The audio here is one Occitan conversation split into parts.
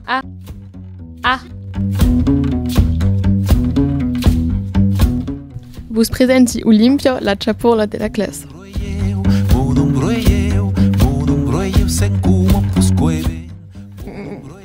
A A Vos presenti Olimpia, la chapurla de la classa.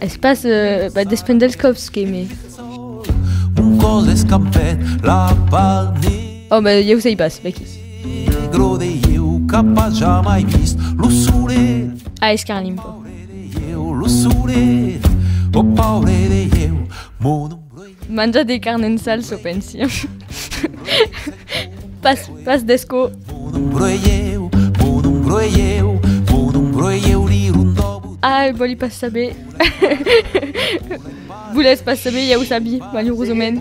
Es pas des pendels còps que me. Un còl d'escampet, la part ne. Ò, ben, ieu sei pas, be qui. Negro de ieu qu'a pas jamai vist lo solet. A escarlimpo. Paure de ieu, lo solet, o paure de ieu, mon. Manja de carn en sal, çò pensi. Pas, pas d'escó. Ai, vòli pas saber. Volètz pas saber, ja o sabi, malurosament.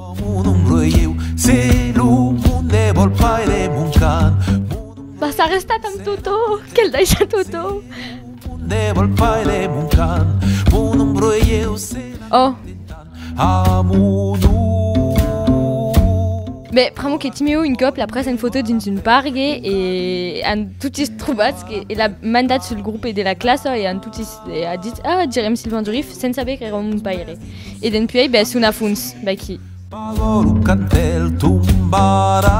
Pas sa restat amb Totò, quel daisha Totò! Ò! Beh, pr'amor que Timeo un còp l'a pres en fotò dins un pargue e an totis trobats que e l'a mandat sul grope de la classa e an totis e a dit ah direm Silvan Durif sens saber qu'èra mon paire. E dempuèi beh son a fons vaquí. Pagòlo quand el tombarà.